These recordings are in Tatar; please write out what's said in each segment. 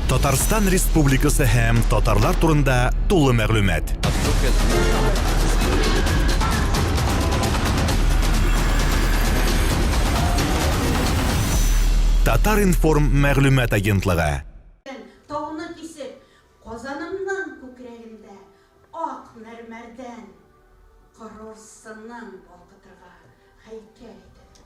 Татарстан Республикасы һәм татарлар турында тулы мәгълүмат. Татар-информ мәгълүмат агентлыгы. Тауны кисеп, Казанымның күкрәгендә ак мәрмәрдән король сынын балкытырга һәйкәл итәләр.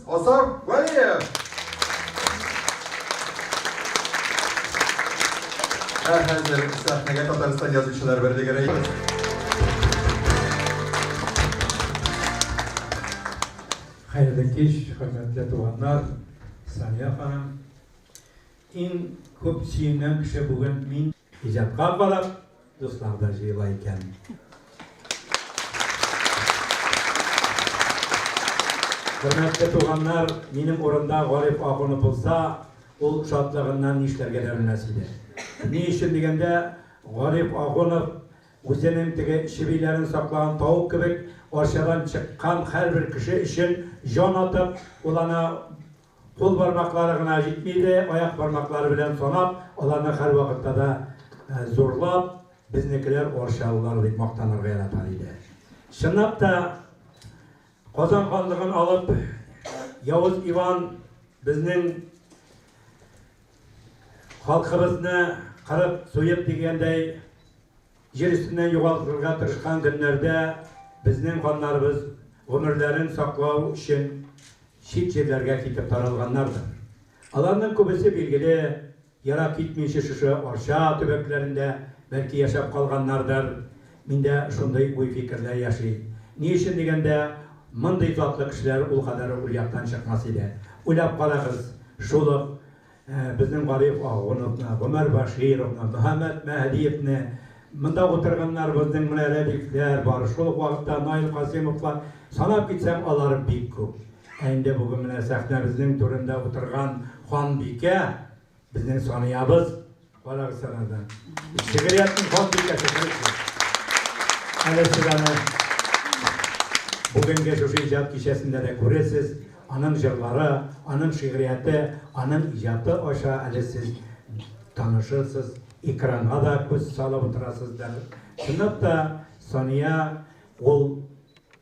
Азар Валиев! Ә хәзер сәхнәгә Татарстан язучылар берлеге рәисе. Хәерле кич, хөрмәтле туганнар, Сания ханым. Иң күп сөенгән кеше бүген мин. Иҗатка карап, дуслар да җыела икән. Хөрмәтле туганнар, минем урында Гариф Ахунов булса, ул шатлыгыннан нишләргә дә белмәс иде. Ни өчен дигәндә, Гариф Ахунов үзенең теге чебиләрен саклаган тавык кебек, арчадан чыккан һәрбер кеше өчен җан атып, ул ана Кул бармаклары гына җитми иде, аяк бармаклары белән санап, аларны һәрвакытта да зурлап, безнекеләр арчалылар дип мактанырга яратар иде. Чынлап та, Казан ханлыгын алып, Явыз Иван безнең халкыбызны кырып, суеп дигәндәй, Җир өстеннән югалтырга тырышкан көннәрдә безнең ханнарыбыз гомерләрен саклау өчен чит җирләргә китеп таралганнардыр. Аларның күбесе, билгеле, ерак китмичә шушы Арча төбәкләрендә, бәлки, яшәп калганнардыр. Миндә шундый уй-фикерләр яши. Ни өчен дигәндә, мондый затлы кешеләр ул кадәр ул яктан чыкмас иде. Уйлап карагыз, шул ук Безнең Гариф Ахуновны, Гомәр Бәшировны, Мөхәммәт Мәһдиевне, монда утырганнарыбызның менә Рәдифләр бар, шул ук вакытта Наил Касыймовлар, санап китсәң, алар бик күп. Ә инде бүген менә сәхнәбезнең түрендә утырган ханбикә, безнең Саниябыз, Карагыз санада. Шигырияттың хат бикәсе кырык. Әле сез аны бүгенге шушы иҗат кичәсендә дә күрерсез. Аның җырлары, аның шигырияте, аның иҗаты аша әле сез танышырсыз, экранга да күз салып утырасыздыр. Чынлап та Сания ул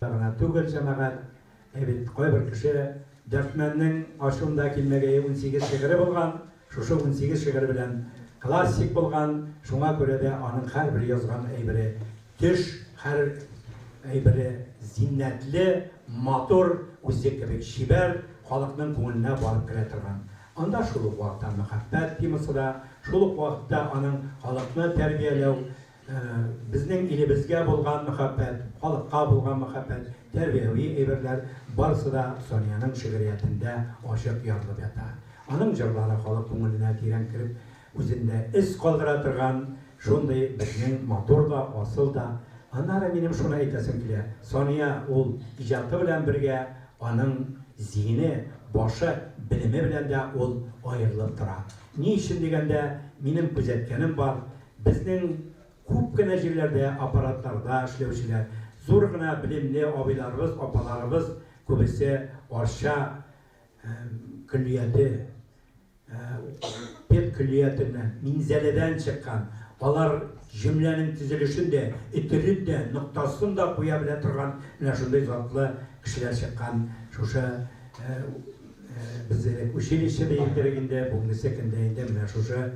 гына түгел җәмәгать, ә бит кайбер кеше Дәртмәннең ашында килмәгәе 18 шигыре булган, Шушы унсигез шигырь белән классик булган, шуңа күрә дә аның һәрбер язган әйбере төш, һәр әйбере зиннәтле, матур, үзе кебек чибәр, халыкның күңеленә барып керә торган. Анда шул ук вакытта мәхәббәт темасы да, шул ук вакытта аның халыкны тәрбияләү, Безнең илебезгә булган мәхәббәт, халыкка булган мәхәббәт, тәрбияви әйберләр, барысы да Саниянең шигъриятендә ачык ярылып ята. Аның җырлары халык күңеленә тирән кереп, үзендә эз калдыра торган шундый безнең матур да, асыл да. Аннары минем шуны әйтәсем килә, Сания ул иҗаты белән бергә, аның зиһене, башы, белеме белән дә ул аерылып тора. Ни өчен дигәндә, минем күзәткәнем бар, Безнең күп кенә җирләрдә аппаратларда эшләүчеләр, зур гына белемле абыйларыбыз, апаларыбыз күбесе Арча көллияте, педкөллиятеннән, Минзәләдән чыккан. Алар җөмләнең төзелешен дә, өтерен дә, ноктасын да куя белә торган менә шундый затлы кешеләр чыккан шушы без элек училище диердек инде, бүгенгесе көндә инде менә шушы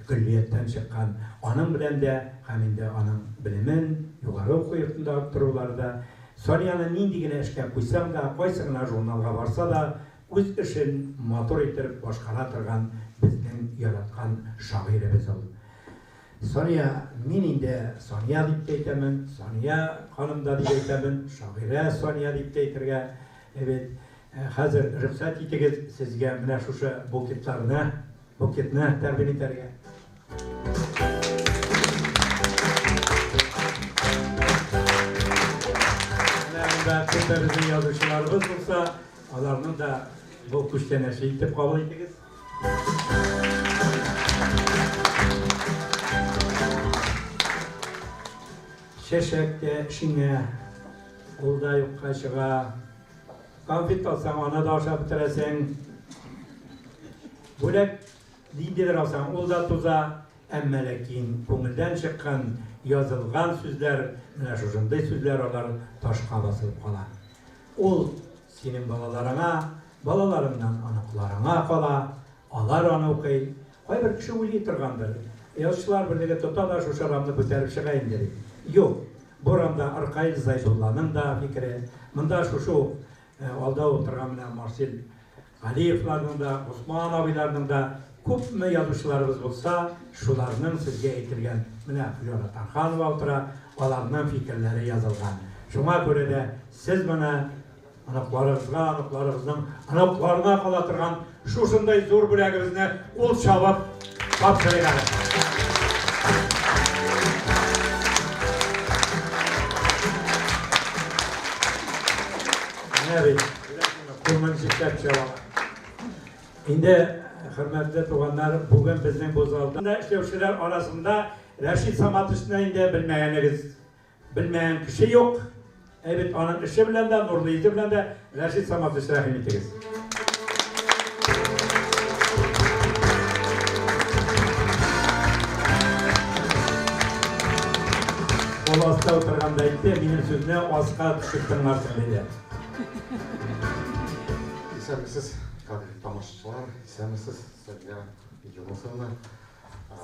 Көллияттән чыккан аның белән дә һәм инде аның белемен, югары уку йортында арттырулары да, Санияны нинди генә эшкә куйсаң да, кайсы гына журналга барса да, үз эшен матур итеп башкара торган безнең яраткан шагыйребез ул. Сания, мин инде Сания дип тә әйтәмен, Сания ханым да дип әйтәмен, шагыйрә Сания дип тә әйтергә бит. Хәзер рөхсәт итегез, сезгә менә шушы буклетларны Букетны тәкъдим итәргә. Менә монда күптән безнең язучыларыбыз булса, аларны да бу күчтәнәче итеп кабул итегез. Чәчәк тә шиңә, ул да юкка чыга. Конфет алсаң, аны да ашап бетерәсең. Бүләк ниндидер алсаң, ул да туза. Әмма ләкин күңелдән чыккан, язылган сүзләр, менә шушындый сүзләр, алар ташка басылып кала. Ул синең балаларыңа, балаларыңнан оныкларыңа кала, алар аны укый, Кайбер кеше уйлый торгандыр, Язучылар берлеге тота да шушы урамны күтәреп чыга инде бит. Юк, бу урамда Ркаил Зайдулланың да фикере, монда шушы ук алда утырган менә Марсель Галиевларның да, Госман абыйларның да, күпме язучыларыбыз булса, шуларның сезгә әйтелгән, менә Флера Тарханова утыра, аларның фикерләре язылган. Шуңа күрә дә сез моны Оныкларыгызга, оныкларыгызның оныкларына кала торган шушындай зур бүләгебезне кул чабып тапшырыйк әле. Менә бит, күңел җитәп чыга. Инде хөрмәтле туганнар, бүген безнең бу залда эшләүчеләр арасында Рәшит Саматовны инде белмәгәнегез Белмәгән кеше юк. Әй бит аның эше белән дә, нурлы йөзе белән дә Рәшит Саматович рәхим итегез. Ул аста утырганда әйтте, минем сүзне аска төшеп тыңларсың диде. Исәнмесез, кадерле тамашачылар, исәнмесез, Сания Юнусовна. Ә,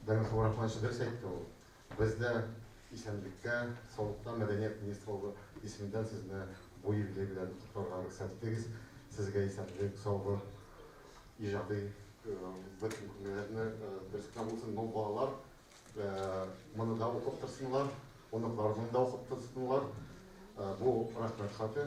Бәйрәм Хәбирахманович дөрес әйтте ул. Бездә исәнлеккә, саулыкка мәдәният министрлыгы исеменнән сезне бу юбилей белән котларга рөхсәт итегез. Сезгә исәнлек, саулык, иҗади бөтен күңелләрне берсенә булсын, мол балалар моны да укып торсыннар, оныкларының да укып торсыннар. Бу рәхмәт хаты.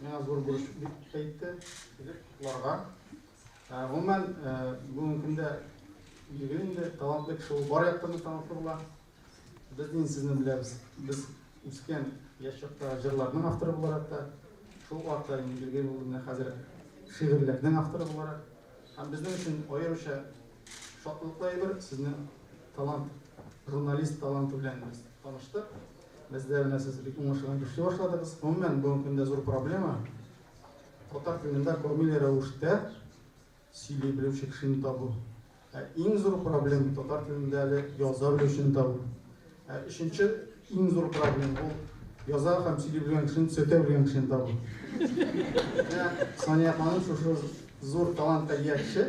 Миңа зур бурыч дип әйтте. Килеп котларга. Ә, Гомумән, ә, бүгенге көндә билгеле инде талантлы кеше ул бар яктан да талантлы була. Без инде сезне беләбез. Без үскән яшь чакта җырларның авторы буларак та, шул вакытта инде билгеле булды менә хәзер шигырьләрнең авторы буларак. Һәм безнең өчен аеруча шатлыклы әйбер сезнең талант, журналист таланты белән без таныштык. Бездә менә сез бик уңышлы эшли башладыгыз. Гомумән, бүгенге көндә зур проблема. Татар телендә күрмиле рәвештә сөйли белүче кешене табу. Ә иң зур проблема татар телендә әле яза белүчене табу. Ә өченче иң зур проблема ул яза һәм сөйли белгән кешене төзәтә белгән кешене табу. Сания ханым шушы зур талантка ия кеше.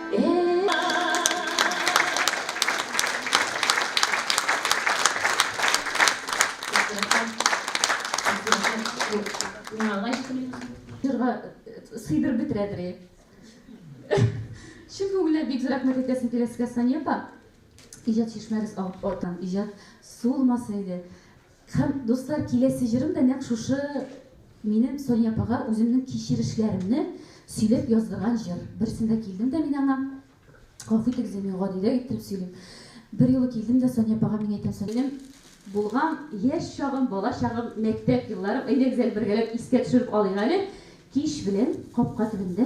сыйдырып бетерәдер чын күңелдән бик зур рәхмәт әйтәсем килә сезгә сания апа иҗат чишмәгез артан иҗат сулмаса иде Һәм, дуслар, киләсе җырым да нәкъ шушы минем Соня апага үземнең кичерешләремне сөйләп яздырган җыр. Берсендә килдем дә мин аңа, гафу итегез, ди, мин гадиләк иттереп сөйлим. Берьюлы килдем дә Соня апага мин әйтәм, Соня, минем булган яшь чагым, бала чагым, мәктәп елларым, әйдәгез әле бергәләп искә төшереп алыйк әле, кич белән капка төбендә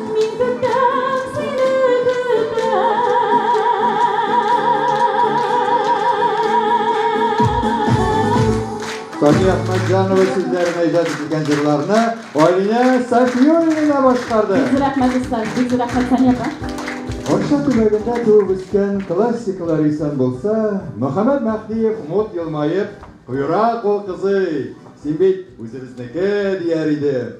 Мин көтәм сине Сафия Ахмадҗанова сүзләренә иҗат ителгән җырларны Алинә Сафиуллина башкарды. Бик рәхмәт Ислам, бик рәхмәт Сания апа. Арча төбәгендә туып үскән классикалар исән булса, Мөхәммәд Мәһдиев мут елмаеп, Куера кул кызый, син бит үзебезнеке, дияр иде.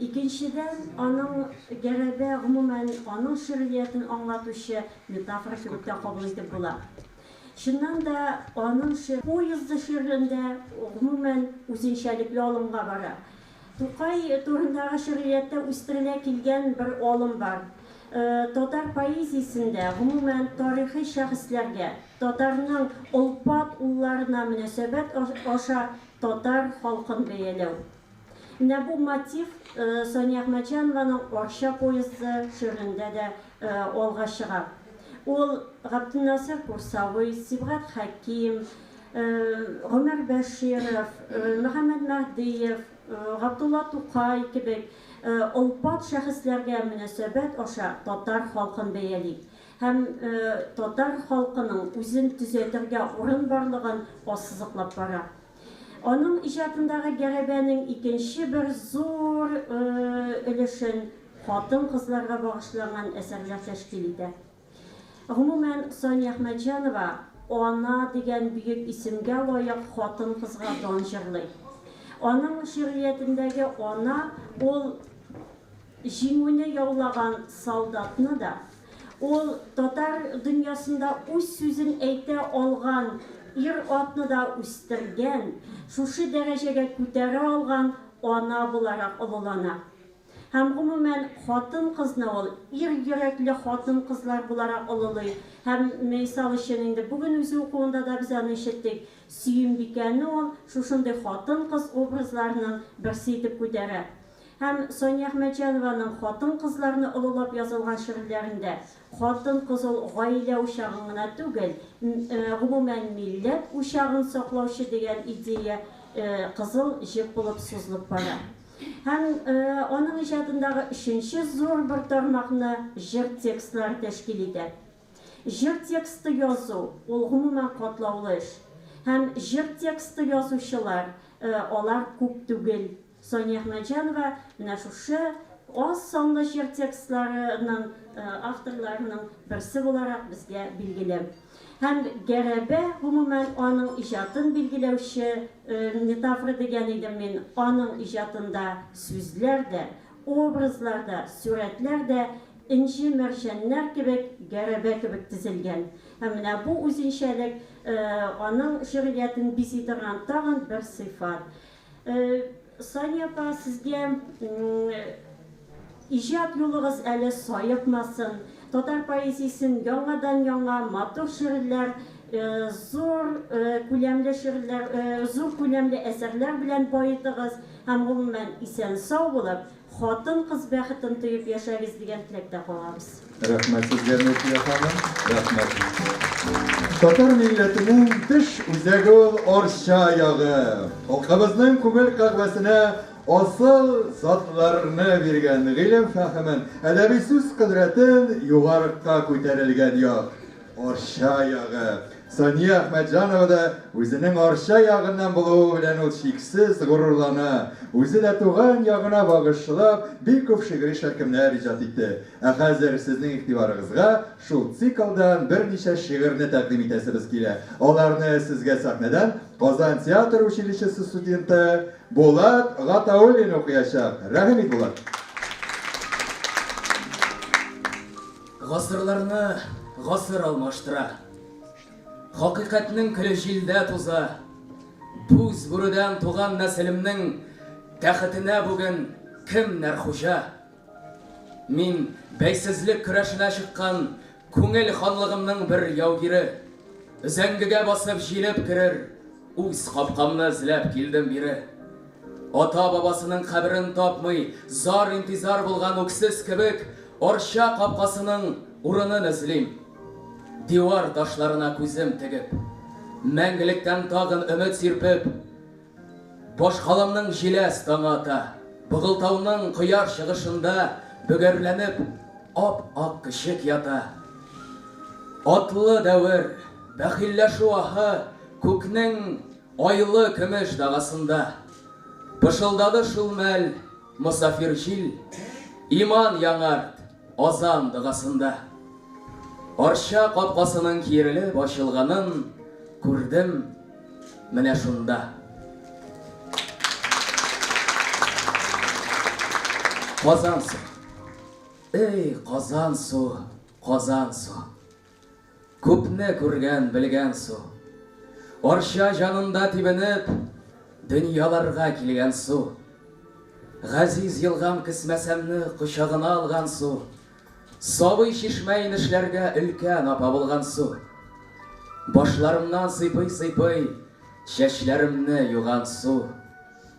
Икенчедән, аның гәрәбе, гомумән, аның шигъриятен аңлатучы метафора кебек тә кабул итеп була. Чыннан да, аның шигъ. Поезды шигырендә, гомумән, үзенчәлекле алымга бара. Тукай турындагы шигърияттә үстерелә килгән бер алым бар. Татар поэзиясендә, гомумән, тарихи шәхесләргә, татарның олпат улларына мөнәсәбәт аша татар халкын бәяләү. Менә бу мотив Сания Әхмәтҗанованың Арча поезды шигырендә дә алга чыга. Ул Габденнасыйр Курсавый, Сибгат Хәким, Гомәр Бәширов, Мөхәммәд Мәһдиев, Габдулла Тукай кебек олпат шәхесләргә мөнәсәбәт аша татар халкын бәяли һәм татар халкының үзен төзәтергә урын барлыгын ассызыклап бара. Аның иҗатындагы гәрәбәнең икенче бер зур өлешен хатын-кызларга багышланган әсәрләр тәшкил итә. Гомумән, Сания Әхмәтҗанова Ана дигән бөек исемгә лаек хатын-кызга дан җырлый. Аның шигъриятендәге ана, ул. Җиңүне яулаган солдатны да, ул татар дөньясында үз сүзен әйтә алган ир-атны да үстергән, шушы дәрәҗәгә күтәрә алган ана буларак олылана. Һәм, гомумән, хатын-кызны ул ир йөрәкле хатын-кызлар буларак олылый һәм, мисал өчен, инде бүген үзе укуында да без аны ишеттек, Сөембикәне ул шушындый хатын-кыз образларының берсе итеп күтәрә. Һәм Сания Әхмәтҗанованың хатын-кызларны олылап язылган шигырьләрендә хатын-кыз ул гаилә учагын гына түгел, гомумән, милләт учагын саклаучы дигән идея кызыл җеп булып сузылып бара. Һәм аның иҗатындагы өченче зур бер тармакны җыр текстлары тәшкил итә. Җыр тексты язу, ул гомумән катлаулы эш. Һәм җыр тексты язучылар, алар күп түгел. Сания Әхмәтҗанова менә шушы аз санлы җыр текстларының авторларының берсе буларак безгә билгеле. Һәм Гәрәбә, гомумән, аның иҗатын билгеләүче метафора дигән идем мин, аның иҗатында сүзләр дә, образлар да, сурәтләр дә энҗе-мәрҗәннәр кебек, гәрәбә кебек тезелгән. Һәм менә бу үзенчәлек аның җыр иятен бизи торган тагын бер сыйфат. Сания апа, сезгә иҗат юлыгыз әле саекмасын, татар поэзиясен яңадан яңа матур шигырьләр, зур күләмле шигырьләр, зур күләмле әсәрләр белән баетыгыз һәм гомумән исән-сау булып, Хатын-кыз бәхетен тоеп яшәгез дигән теләктә калабыз. Рәхмәт сезгә Нуркия ханым, рәхмәт бик зур. Татар милләтенең тыш үзәге ул Арча ягы. Халкыбызның күңел кагъвәсенә асыл затларны биргән, гыйлем-фәһемен, әдәби сүз кодрәтен югарыкка күтәрелгән як. Арча ягы. Сания Әхмәтҗанова да үзенең Арча ягыннан булуы белән ул чиксез горурлана. Үзе дә туган ягына багышлап бик күп шигъри шәлкемнәр иҗат итте. Ә хәзер сезнең игътибарыгызга шул циклдан берничә шигырьне тәкъдим итәсебез килә. Аларны сезгә сәхнәдән Казан театр училищесы студенты Булат Гатауллин укыячак. Рәхим ит, Булат! Гасырларны гасыр алмаштыра. Хакыйкатьнең көле җилдә туза. Буз бүредән туган нәселемнең тәхетенә бүген кемнәр хуҗа? Мин, бәйсезлек көрәшенә чыккан күңел ханлыгымның бер яугире. Өзәңгегә басып җилеп керер. Үз капкамны эзләп килдем бире. Ата-бабасының каберен тапмый, зар-интизар булган үксез кебек, Арча капкасының урынын эзлим. Дивар ташларына күзем тегеп, мәңгелектән тагын өмет сирпеп, Башкаламның җиләс таңы ата, Богылтауның кояш чыгышында бөгәрләнеп ап-ак көчек ята. Атлы дәвер, бәхилләшү аһы Күкнең айлы көмеш дагасында. Пышылдады шул мәл мосафир җил, Иман яңарт, азан догасында. Арча капкасының киерелеп ачылганын күрдем менә шунда. Казансу, эй, Казансу, Казансу. Күпне күргән, белгән су. Арча җанында тибенеп, Дөньяларга килгән су. Газиз елгам Кесмәсәмне кочагына алган су. Сабый чишмә инешләргә Өлкән апа булган су. Башларымнан сыйпый-сыйпый Чәчләремне юган су.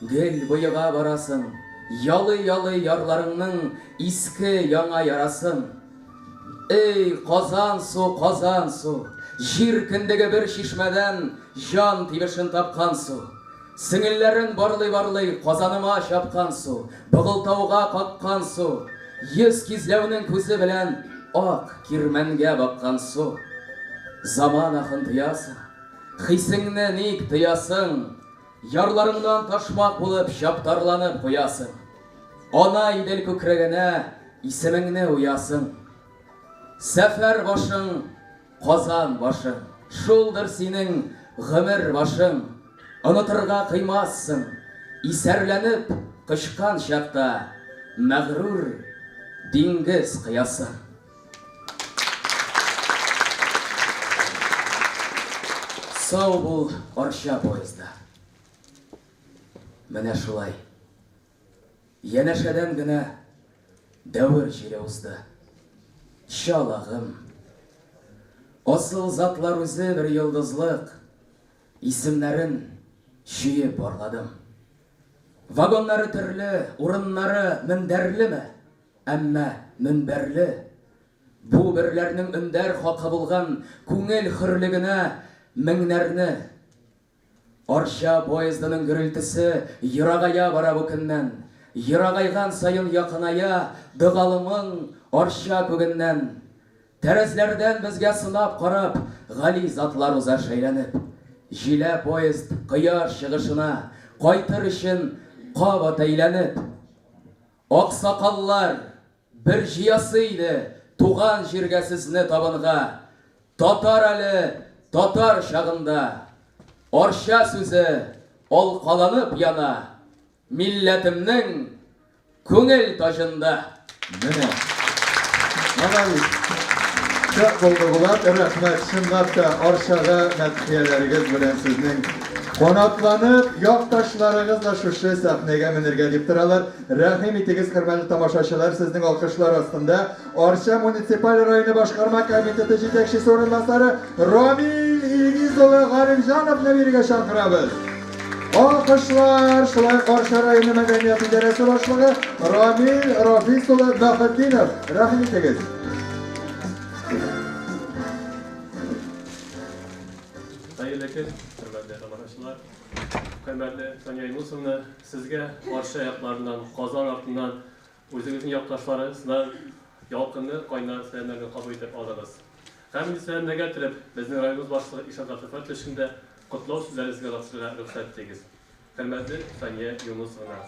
Гел боега барасың. Ялый-ялый ярларыңның иске, яңа ярасын. Эй, Казан су, Казан су! Җир кендеге бер чишмәдән җан тибешен тапкан су. Сеңелләрен барлый-барлый Казаныма чапкан су, Богылтауга каккан су, Йөз кизләүнең күзе белән ак кирмәнгә баккан су. Заман ахын тоясың. Хисеңне ник тыясың? Ярларыңнан ташмак булып чаптарланып куясың. Ана Идел күкрәгенә исемеңне уясың. Сәфәр башың, Казан башың. Шулдыр синең гомер башың. Онытырга кыймассың. Исәрләнеп кочкан чакта мәгърур диңгез коясың. Сау бул, Арча поезды. Менә шулай. Янәшәдән генә дәвер җире узды. Чалагым. Асыл затлар үзе бер йолдызлык. Исемнәрен чөеп барладым. Вагоннары төрле, урыннары мендәрлеме? Әмма мөнбәрле бу берләрнең өндәр хакы булган күңел хөрлегенә меңнәрне. Арча поездының гөрелтесе ерагая бара бу көннән, ерагайган саен якыная догалымың Арча күгеннән. Тәрәзләрдән безгә сынап карап гали затлар уза шәйләнеп. Җилә поезд кояш чыгышына кайтыр өчен кабат әйләнеп. Аксакаллар бер җыясы иде туган җиргә сезне табынга, татар әле татар чагында. Арча сүзе алкаланып яна милләтемнең күңел таҗында. Менә. Менә бит. Шәп булды, Булат. Рәхмәт. Чынлап та, Арчага мәдхияләрегез белән сезнең Канатланып, якташларыгыз да шушы сәхнәгә менергә дип торалар. Рәхим итегез, хөрмәтле тамашачылар, сезнең алкышлар астында Арча муниципаль районы башкарма комитеты җитәкчесе урынбасары Рамил Илгиз улы Галимҗановны бирегә чакырабыз. Алкышлар, шулай ук Арча районы мәдәният идарәсе башлыгы Рамил Рафис улы Мөхетдинов, рәхим итегез. Хәерле көн, хөрмәтле тамашачылар. Хөрмәтле Сания Юнусовна, сезгә каршы якларыннан, Казан артыннан үзегезнең якташларыгыздан ялкынлы кайнар сәламнәрне кабул итеп алыгыз. Һәм инде сәламнәргә төреп, безнең районыбыз башлыгы Ишан Габдулфәт өчен дә котлау сүзләрегезгә озатырга рөхсәт итегез. Хөрмәтле Сания Юнусовна,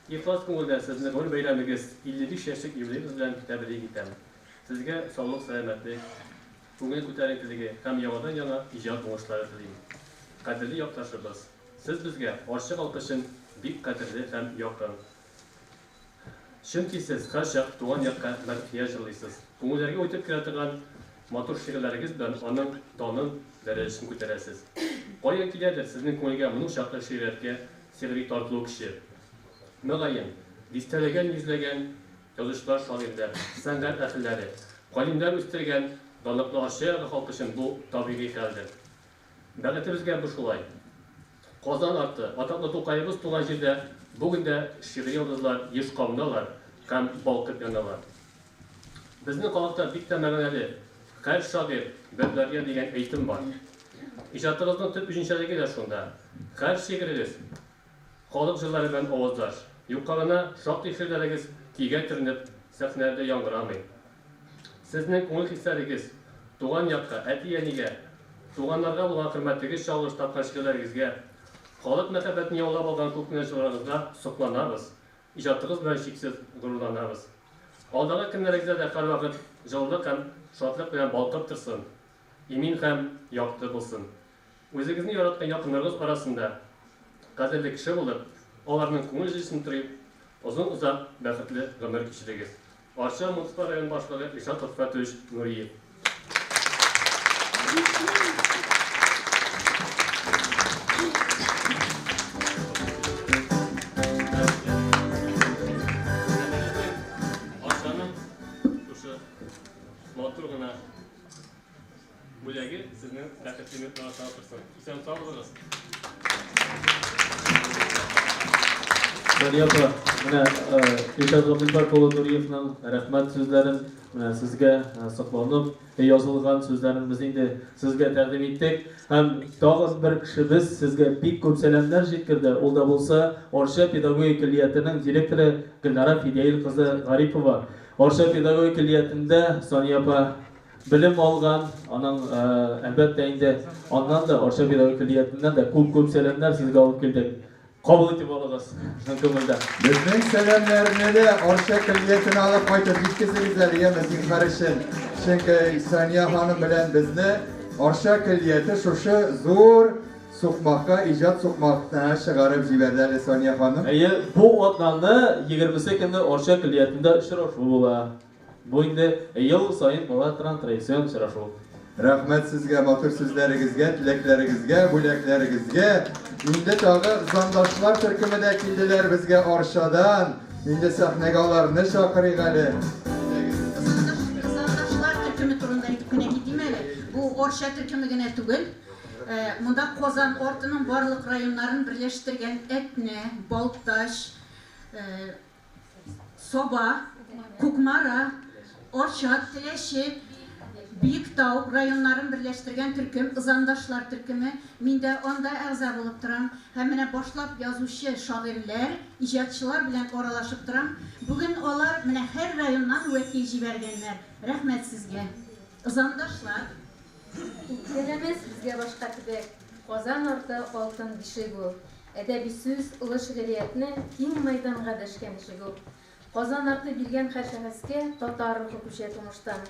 ихлас күңелдән сезне гомер бәйрәмегез, 55 яшьлек юбилеегыз белән тәбрик итәм. Сезгә саулык, сәламәтлек, Күңел күтәренкелеге һәм яңадан-яңа иҗат уңышлары телим. Кадерле якташыбыз, сез безгә, Арча алпычын, бик кадерле һәм якын. Чөнки сез һәрчак туган якка мәдхия җырлыйсыз, күңелләргә үтеп керә торган матур шигырьләрегез белән аның данын, дәрәҗәсен күтәрәсез. Каян киләдер сезнең күңелгә моның чаклы шигъриятькә сихри тартылу көче? Мөгаен, дистәләгән-йөзләгән Язучылар, шагыйрьләр, сәнгать әһелләре, галимнәр үстергән данлыклы Арча ягы халкы өчен бу табигый хәлдер. Бәхетебезгә бу шулай. Казан арты, атаклы Тукаебыз туган җирдә бүген дә шигъри йолдызлар еш кабыналар һәм балкып яналар. Безнең халыкта бик тә мәгънәле, Хәл шагыйрь, бер дарья дигән әйтем бар. Иҗатыгызның төп үзенчәлеге дә шунда. Хәл шигырегез, Халык җырлары белән аваздаш, юкка гына шактый шигырьләрегез көйгә төренеп, сәхнәләрдә яңгырамый. Сезнең күңел хисләрегез, туган якка, әти-әнигә, туганнарга булган хөрмәтегез чагылыш тапкан шигырьләрегезгә, халык мәхәббәтен яулап алган күкнең җылылыгыгызга сокланабыз, иҗатыгыз белән чиксез горурланабыз. Алдагы көннәрегездә дә һәрвакыт җылылык һәм шатлык белән балкып торсын, имин һәм якты булсын! Үзегезне яраткан якыннарыгыз арасында кадерле кеше булып, аларның күңел җылысын тырып, озын-озак бәхетле гомер кичерегез. Арча муниципаль район башлыгы Илшат Ротфәтович Нуриев. Бүләге сезнең бәхетле минутларыгызны арттырсын. Исән сау булыгыз. Сания апа, менә Илшат Габделбак улы Нуриевның рәхмәт сүзләрен менә сезгә сокланып язылган сүзләрен без инде сезгә тәкъдим иттек. Һәм тагын бер кешебез сезгә бик күп сәламнәр җиткерде. Ул да булса Арча педагогик көллиятенең директоры Гөлнара Фидяил кызы Гарипова. Арча педагогик көллиятендә Сания апа Белем алган, аның, әлбәттә инде, аннан да, Арча педагогик көллиятеннән дә күп-күп сәламнәр сезгә алып килдек. Кабул итеп алыгыз чын күңелдән. Безнең сәламнәрне дә Арча көллиятенә алып кайтып җиткезегез әле, яме, зинһар өчен. Чөнки Сания ханым белән безне Арча көллияте шушы зур сукмакка, иҗат сукмакына чыгарып җибәрде әле Сания ханым. Әйе, бу атнаны, егермесе көнне Арча көллиятендә очрашу була. Бу инде ел саен була торган традицион очрашу. Рәхмәт сезгә матур сүзләрегезгә, теләкләрегезгә, бүләкләрегезгә! Инде тагы Зандашлар төркеме дә килделәр безгә Арчадан. Инде сәхнәгә аларны чакырыйк әле. Зандашлар төркеме турында әйтеп кенә китим әле. Бу Арча төркеме генә түгел. Монда Казан артының барлык районнарын берләштергән Әтнә, Балтач, Саба, Кукмара, Арча, Теләче, Биектау районнарын берләштергән төркем, Ызандашлар төркеме. Мин дә анда әгъза булып торам һәм менә башлап язучы, шагыйрьләр, иҗатчылар белән аралашып торам. Бүген алар менә һәр районнан вәкил җибәргәннәр. Рәхмәт сезгә, Ызандашлар! Сәләмә сезгә башка төбәк, Казан арты алтын бишек ул. Әдәби сүз, олы шигъриятне киң мәйданга дәшкән чигү. Казан арты биргән хәр шәхескә татар рухы күчә тумыштан.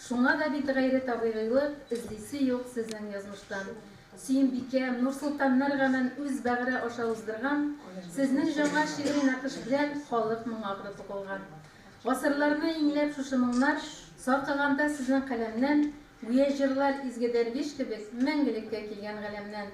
Шуңа да бит гайре табигыйлык, эзлисе юк сезнең язмыштан. Сөембикә, Нурсолтаннар гамен үз бәгыре аша уздырган, сезнең җаңа шигъри нәкыш белән халык моңы акры тукылган. Гасырларны иңләп шушы моңнар саркыганда сезнең каләмнән, гүя җырлар изге дәрвиш кебек мәңгелеккә килгән галәмнән.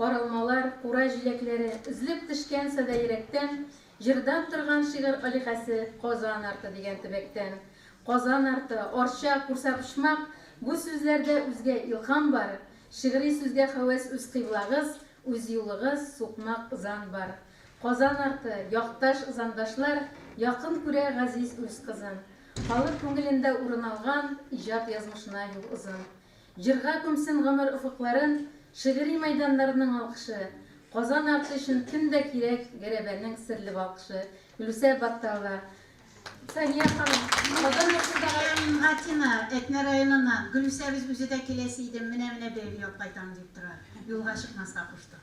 Каралмалар, кура җиләкләре, Өзлеп төшкән садә йөрәктән, Җырдан торган шигырь аликәсе, Казан арты дигән төбәктән. Казан арты, Арча, Курсапочмак, Бу сүзләрдә үзгә илһам бар. Шигъри сүзгә хәвәс үз кыйблагыз, Үз юлыгыз, сукмак, зан бар. Казан арты, Якташ, зандашлар, Якын күрә газиз үз кызын. Халык күңелендә урын алган, Иҗат язмышына юл озын. Җырга күмсен гомер офыкларын Шигъри мәйданнарның алкышы, Казан арты өчен кем дә кирәк Гәрәбәнең серле балкышы, Гөлүсә Батталова, Сания ханым, Казан арты да. Әм Атина, Әтнә районыннан, Гөлүсәбез үзе дә киләсе идем, менә-менә бәйге яп кайтам дип тора, юлга чыкмаска куштык.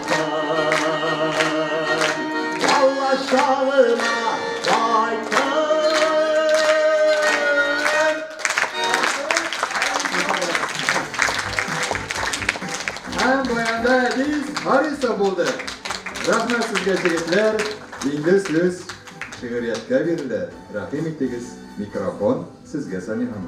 Харисов булды. Рәхмәт сезгә, егетләр. Инде сүз шигырияткә бирелә. Рәхим итегез, микрофон сезгә, Самихан.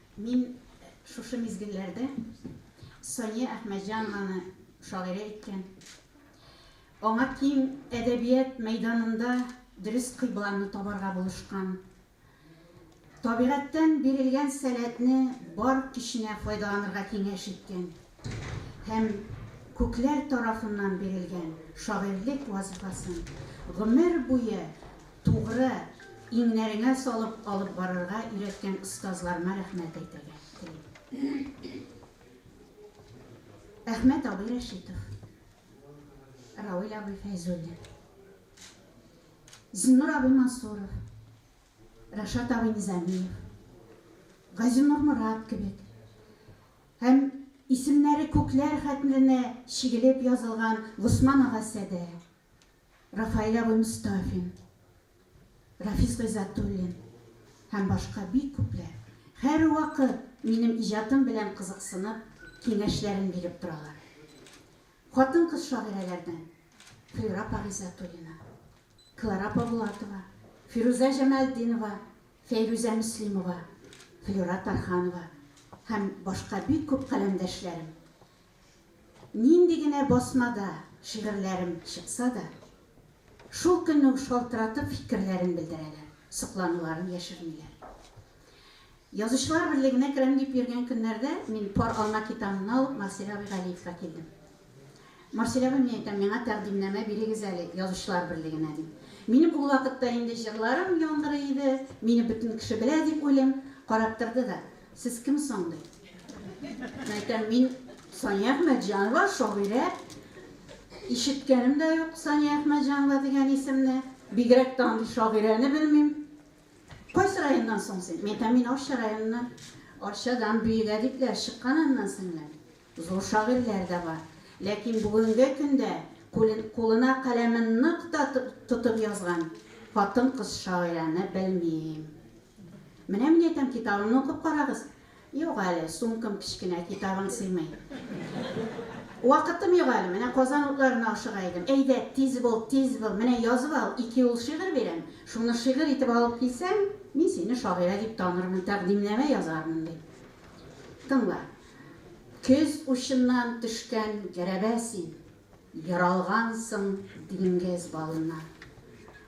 Мин шушы мизгелләрдә Сания Әхмәтҗанованы шагыйрә иткән, аңа тиң әдәбият мәйданында дөрес кыйбланы табарга булышкан, табигатьтән бирелгән сәләтне бар көченә файдаланырга киңәш иткән. һәм күкләр тарафыннан бирелгән шагыйрьлек вазифасын гомер буе тугры иңнәреңә салып алып барырга өйрәткән остазларыма рәхмәт әйтергә телим. Әхмәт абый Рәшитов, Рауил абый Фәйзуллин, Зиннур абый Мансуров, Рашат абый Низамиев, Газинур Морат кебек Һәм исемнәре күкләр хәтменә чигелеп язылган Госман ага Сәдә, Рафаэль абый Мостафин, Рафис Гыйззәтуллин һәм башка бик күпләр һәрвакыт минем иҗатым белән кызыксынып, киңәшләрен биреп торалар. Хатын-кыз шагыйрәләрдән Флюра апа Гыйззәтуллина, Клара апа Булатова, Фирүзә Җамәлтдинова, Фәйрүзә Мөслимова, Флюра Тарханова һәм башка бик күп каләмдәшләрем. Нинди генә басмада шигырьләрем чыкса да, шул көнне үк шалтыратып фикерләрен белдерәләр, соклануларын яшермиләр. Язучылар берлегенә керәм дип йөргән көннәрдә мин Пар алма китабымны алып Марсель абый Галиевка килдем. Марселяга мин әйтәм, миңа тәкъдимнәмә бирегез әле Язучылар берлегенә, дим. Минем ул вакытта инде җырларым яңгырый иде, мине бөтен кеше белә дип уйлыйм. Карап торды да, Сез кем соң? ди. Мин әйтәм, Мин Сания Әхмәтҗанова, шагыйрә. Ишеткәнем дә юк Сания Әхмәтҗанова дигән исемне. Бигрәк тә андый шагыйрәне белмим. Кайсы районнан соң син? Мин әйтәм, Мин Арча районыннан, Арчадан Бөек Әдипләр чыккан аннан соң ләкин. Зур шагыйрьләр дә бар. Ләкин бүгенге көндә кулен кулына каләмен нык та тотып язган хатын-кыз шагыйрәне белмим. Менә мин әйтәм, китабымны укып карагыз. Юк әле, сумкам кечкенә, китабым сыймый. Вакытым юк әле, менә Казан утларына ашыга идем. Әйдә, тиз бул, тиз бул, менә язып ал, ике юл шигырь бирәм, шуны шигырь итеп алып килсәң, мин сине шагыйрә дип танырмын, тәкъдимнамә язармын, ди. Тыңла. Көз учыннан төшкән гәрәбә син, Ералгансың диңгез балына.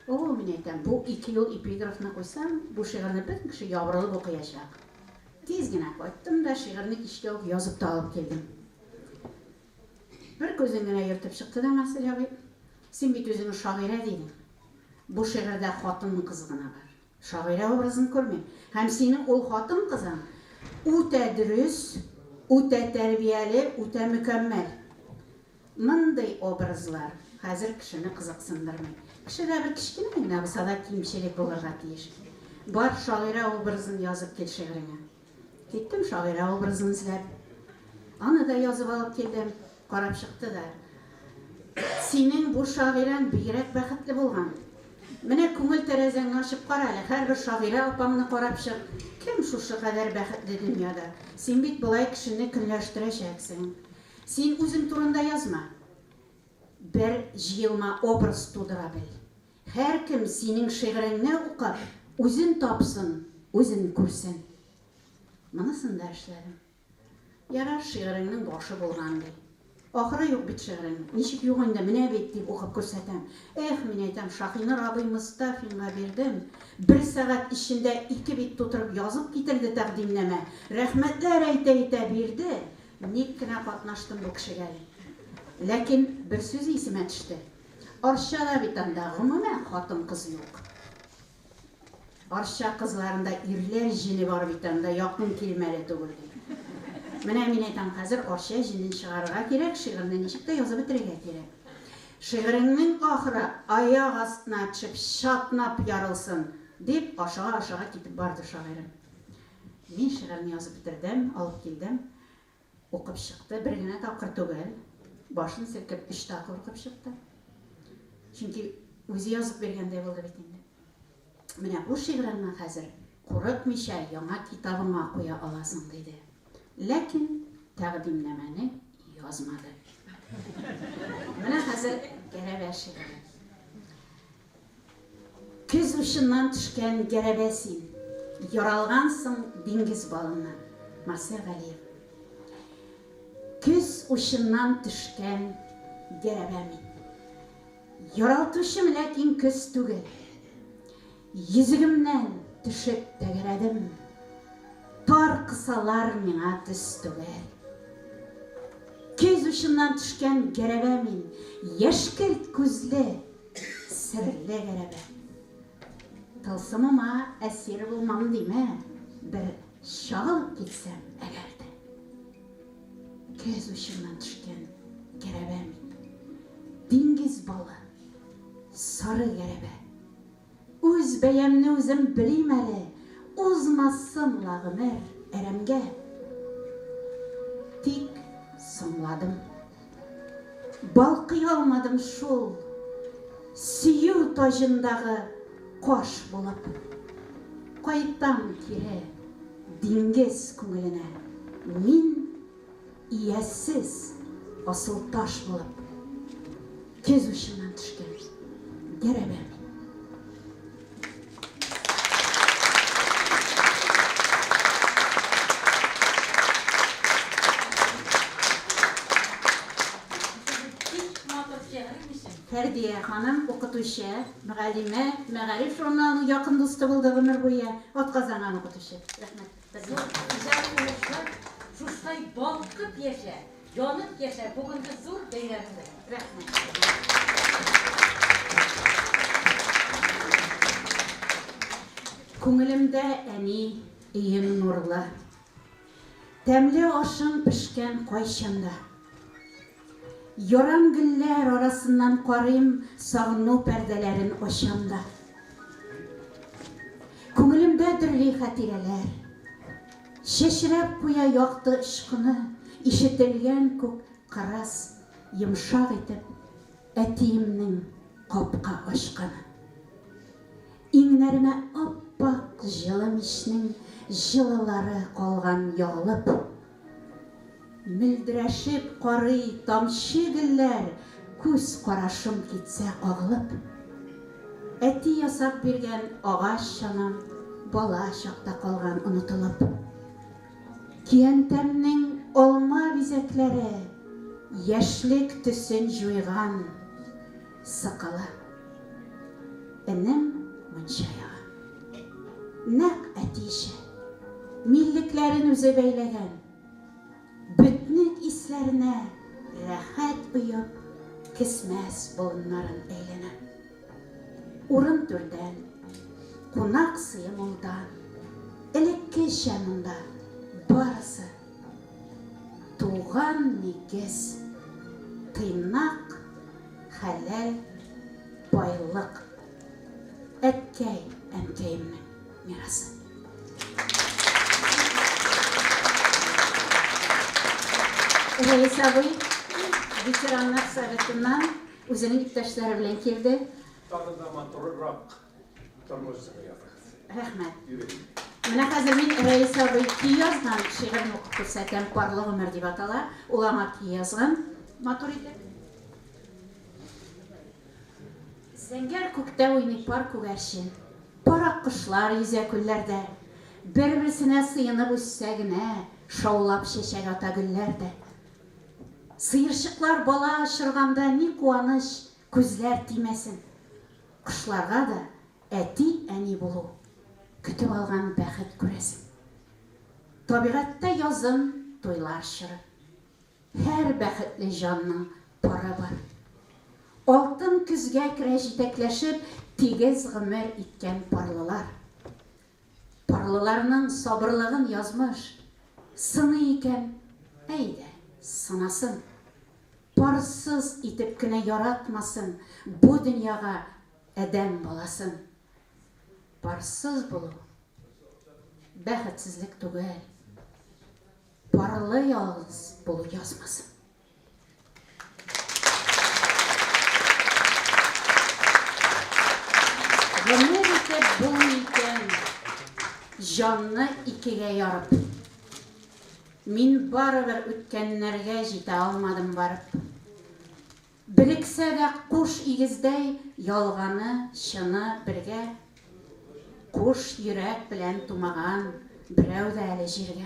О-о, мин әйтәм, бу ике юл эпиграфны куйсаң, бу шигырьне бөтен кеше ябырылып укыячак. Тиз генә кайттым да, шигырьне кичкә үк язып та алып килдем. Бер күзен генә йөртеп чыкты да Марсель абый, Син бит үзеңне шагыйрә дидең. Бу шигырьдә хатын-кыз гына бар. Шагыйрә образын күрмим. Һәм синең ул хатын-кызың үтә дөрес, үтә тәрбияле, үтә мөкәммәл. Мондый образлар хәзер кешене кызыксындырмый. Кешедә бер кечкенә генә булса да кимчелек булырга тиеш. Бар шагыйрә образын язып кил шигыреңә. Киттем шагыйрә образын эзләп. Аны да язып алып килдем. Карап чыкты да. Синең бу шагыйрәң бигрәк бәхетле булган. Менә күңел тәрәзәңне ачып кара әле, һәрбер шагыйрә апаңны карап чык, кем шушы кадәр бәхетле дөньяда? Син бит болай кешене көнләштерәчәксең. Син үзең турында язма. Бер җыелма образ тудыра бел. Һәркем синең шигыреңне укып, үзен тапсын, үзен күрсен. Монысын да эшләдем. Ярар, шигыреңнең башы булган, ди. Ахыры юк бит шигыреңнең. Ничек юк инде, менә бит, дип укып күрсәтәм. Эх, мин әйтәм, Шаһинур абый Мостафинга бирдем, бер сәгать эчендә ике бит тутырып язып китерде тәкъдимнамә, рәхмәтләр әйтә-әйтә бирде, ник кенә катнаштым бу кешегә, дип. Ләкин бер сүзе исемә төште. Арчада бит анда гомумән хатын-кыз юк. Арча кызларында ирләр җене бар бит анда, якын килмәле түгел бит. Менә мин әйтәм, хәзер Арча җенен чыгарырга кирәк, шигырьне ничек тә язып бетерергә кирәк. Шигыреңнең ахыры аяк астына төшеп, чатнап ярылсын, дип, ашыга-ашыга китеп барды шагыйрем. Мин шигырьне язып бетердем, алып килдем. Укып чыкты, бер генә тапкыр түгел, башын селкеп өч тапкыр укып чыкты. Чөнки үзе язып биргәндәй булды бит инде. Менә бу шигыреңне хәзер курыкмыйча яңа китабыңа куя аласың, диде. Ләкин тәкъдимнамәне язмады. Менә хәзер Гәрәбә шигыре. Көз учыннан төшкән гәрәбә син, Яралгансың диңгез балыннан. Марсель Галиев Көз учыннан төшкән гәрәбә мин. Яралтучым ләкин көз түгел. Йөзегемнән төшеп тәгәрәдем. Тар кысалар миңа төз түгел. Көз учыннан төшкән гәрәбә мин. Яшькелт күзле Серле гәрәбә. Тылсымыма әсир булмам димә, бер чалып китсәм әгәр дә. Көз учыннан төшкән гәрәбә мин. Диңгез балы, сары гәрәбә. Үз бәямне үзем белим әле, Узмасын ла гомер әрәмгә. Тик соңладым. Балкый алмадым шул Сөю таҗындагы каш булып. Кайтам кире диңгез күңеленә мин. Ияссез асыл таш булып. Көз учыннан төшкән дәрәбә мин. Фәрдия ханым, укытучы, мөгаллимә, Мәгариф журналының якын дусты булды гомер буе, атказанган укытучы. Рәхмәт. Зур иҗат уңышлар, шуштай балкып яшә, янып яшә бүгенге зур бәйрәмдә. Рәхмәт. Күңелемдә әни өең нурлы. Тәмле ашың пешкән кайчанда. Ярам гөлләр арасыннан карыйм Сагыну пәрдәләрен ачам да Күңелемдә дөрли хәтирәләр Чәчрәп куя якты очкыны Ишетелгән күк кырыс йомшак итеп Әтиемнең капка ачканы Иңнәремә ап-ак җылы мичнең Җылылары калган ягылып Мөлдерәшеп карый тамчы гөлләр Күз карашым китсә кагылып. Әти ясап биргән агач чанам Бала чакта калган онытылып. Көянтәмнең алма бизәкләре Яшьлек төсен җуйган. Сакалы. Энем мунча яга. Нәкъ әтиечә. Миллекләрен үзе бәйләгән. Бөтнек исләренә рәхәт оеп, кесмәс болыннарын әйләнә. Урын түрдән, кунак сые мулдан. Элеккечә монда барысы. Туган нигез, тыйнак, хәләл байлык. Әткәй, әнкәемнең мирасы. Рәис абый ветераннар советыннан үзенең иптәшләре белән килде. Тагы да матурырак. Рәхмәт. Менә хәзер мин Рәис абый ки язган шигырьне укып күрсәтәм. Парлы гомер дип атала. Ул аңа ки язган. Матур итеп. Зәңгәр күктә уйный пар күгәрчен. Пар аккошлар йөзә күлләрдә. Бер-берсенә сыенып үссә генә, шаулап чәчәк ата гөлләр дә. Сыерчыклар бала очырганда ни куаныч! Күзләр тимәсен. Кошларга да әти, әни булу, көтеп алган бәхет күрәсең. Табигатьтә язын, туйлар чоры. Һәр бәхетле җанның пары бар. Алтын көзгә керә җитәкләшеп тигез гомер иткән парлылар. Парлыларның сабырлыгын язмыш сыный икән, әйдә, сынасын. Парсыз итеп кенә яратмасын бу дөньяга адәм баласын. Парсыз булу, бәхетсезлек түгел. Парлы ялгыз булу язмасын. Гомер итеп булмый икән, җанны икегә ярып. Мин барыбер үткәннәргә җитә алмадым барып. Берексә дә куш игездәй, ялганы, чыны бергә. Куш йөрәк белән тумаган берәү дә әле җиргә.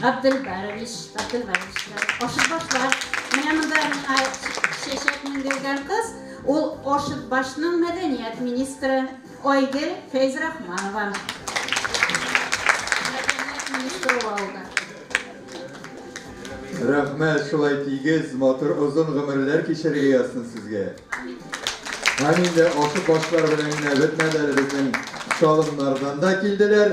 Габделбарович, Габделбарович, Ашытбашлар. Менә монда чәчәк менгергән кыз, ул Ашытбашның мәдәният министры Айгел Фәйзрахманова. Мәдәният министры алды. Рәхмәт, шулай тигез, матур, озын гомерләр кичерергә язсын сезгә. Һәм инде Ашытбашлар белән генә бетмәде әле безнең салымнардан да килделәр.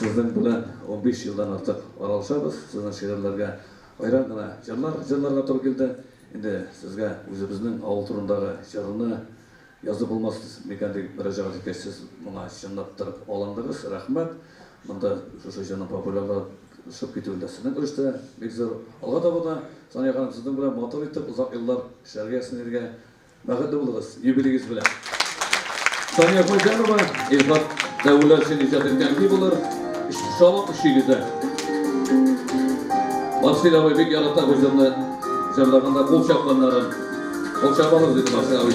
Сезнең белән унбиш елдан артык аралашабыз, сезнең шигырьләргә аерым гына җырлар җырларга туры килде. Инде сезгә үзебезнең авыл турындагы җырны язып булмас микән дип мөрәҗәгать иткәч, сез моңа чынлаптырып алындыгыз, рәхмәт! Монда шушы җырның популярлашып китүендә сезнең өлеш тә бик зур. Алга таба да, Сания ханым, сезнең белән матур итеп озак еллар эшләргә, ясмин иргә Бәхетле булыгыз юбилегез белән! Сания Хуҗанова, Илфат Дәүләшин иҗат иткән би булыр, Шалак өчигезә. Марсель абый бик ярата бу җырны җырлаганда кул чапканнарын. Кул чапалар диде Марсель абый.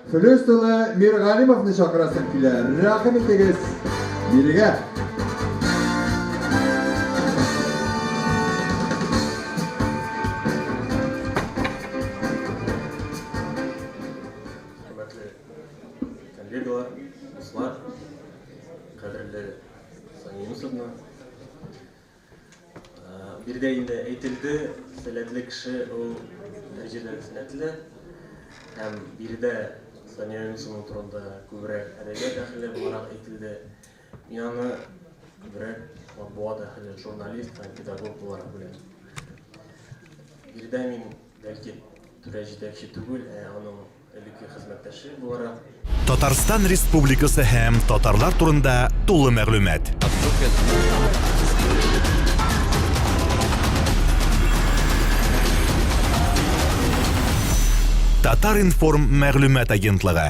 Флюс тулы Миргалимовны чакырасым килә, рәхим итегез, бирегә! Хөрмәтле коллегалар, дуслар, кадерле Сания Юнысовна! Биредә инде әйтелде, сәләтле кеше ул дәрәҗәдә сәләтле. Һәм биредә Сания Юнусова турында күбрәк әдәбият әһеле буларак әйтелде. Мин аны күбрәк матбугат әһеле, журналист һәм педагог буларак беләм. Биредә мин бәлки түрә җитәкче түгел, ә аның Элекке хезмәттәше буларак. Татарстан Республикасы һәм татарлар турында тулы мәгълүмат. Татар-информ мәгълүмат агентлыгы.